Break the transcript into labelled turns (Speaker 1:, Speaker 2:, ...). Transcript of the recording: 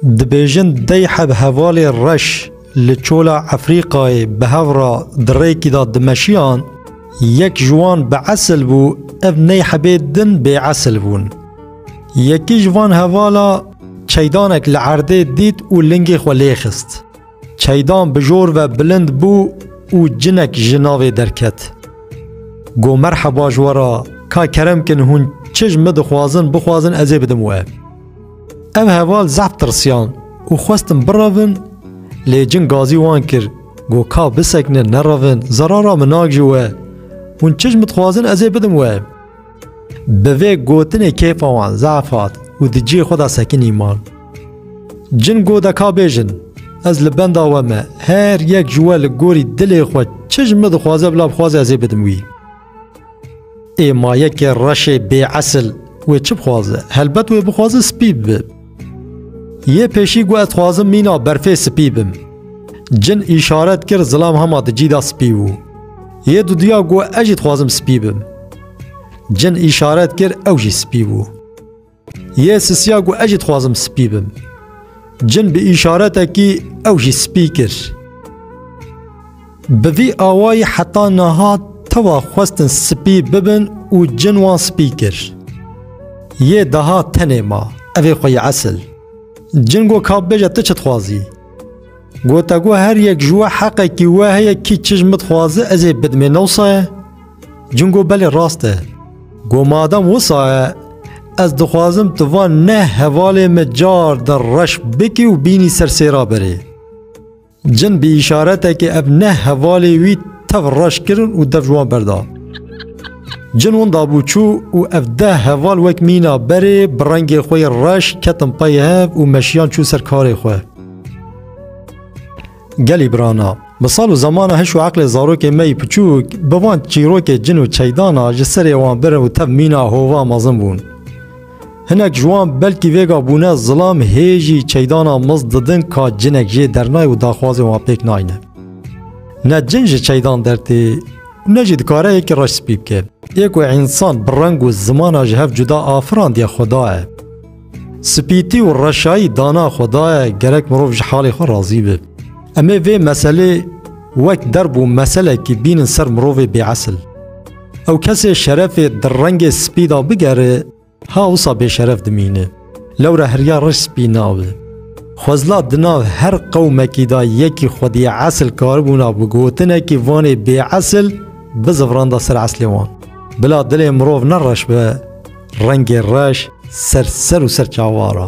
Speaker 1: Dibêjin dey heb hevalê reş li çola Efrîqayê bi hev re di rêkî de dimeşiyan, yek ji wan bi esil bû ev ney hebê din bê esil bûn. Yekî ji van hevala çeydanek li erdê dît û lingê xwe lê xist. Çeydan bi jor ve bilind bû û cinek ji navê derket. Got merheba ji we re ka kerem kin hûn çi ji min dixwazin bixwazin ez ê bidim we. Ev heval zehf tirsiyan û xwestin birevin lê cin gazî wan kir got ka bisekinin nerevin zerara minak ji we hûn çi ji min dixwazin ez ê bidim we. Bi vê gotinê kêfa wan zaf hat û di cihê xwe de sekinî man. Cin got de ka bêjin, ez li benda we me, her yek ji we li gorî dilê xwe çi ji min dixwaze bila bixwaze ez ê bidim wî. Ê ma yekê reşê bêesil wê çi bixwaze? Helbet wê bixwaze spî bibe. Yê pêşî got ez xwazim mîna berfê spî bim. Cin îşaret kir zilam hema di cî de spî bû. Yê duduya got ez jî dixwazim spî bim. Cin îşaret kir ew jî spî bû. Yê sisiya got ez jî dixwazim spî bim. Cin bi îşaretekî ew jî spî kir. Bi vî awayî heta niha tewa xwestin spî bibin û cin wan spî kir. Yê daha tenê ma, evê xwe yê esil. Cin got ka bêje tu çi dixwazî? Gote got her yek ji we heqekî we heye kî çi ji min dixwaze ez ê bidimê ne wisa ye? Cin got belê rast e. Got madem wisa ye ez dixwazim tu van neh hevalê min car di reş bikî û bînî ser sêra berê. Cin bi îşaretekê ev neh hevalê wî tev reş kirin û dev ji wan berda. Cin win dabû çû û ev deh heval wek mîna berê bi rengê xwe yê reş ketin pey hev û meşiyan çûn ser karê xwe. Gelî birana, bi sal û zemana hiş û eqlê zarokê me yî piçûk bi van çîrokê cin û çeydan a ji serê wan birin û tev mîna hova mezin bûn. Hinek ji wan belkî vêga bûne zilam hê jî çeydana miz didin ka cinek jê dernay û daxwazên wan pêk nayne. Ne cin ji çeydan dertê û ne jî dikare yekî reş spî bike. Yê ku însan bi reng û zimana ji hev cuda afirandiye xuda ye. Spîtî û reşayî dana xuda ye gerek mirov ji halê xwe razî be. Em ê vê meselê wek derb û meselekî bînin ser mirovê bêesil. Ew kesê şerefê di rengê spî de bigere, ha wisa bêşeref dimîne. Lewra heriya reş spî nabe. Xwezla di nav her qewmekî de yekî xwedî esil karibûna bi gotinekî vanê bêesil bizivranda ser eslê wan. Bila dilê mirov ne reş be, rengê reş ser ser û ser çawa ra.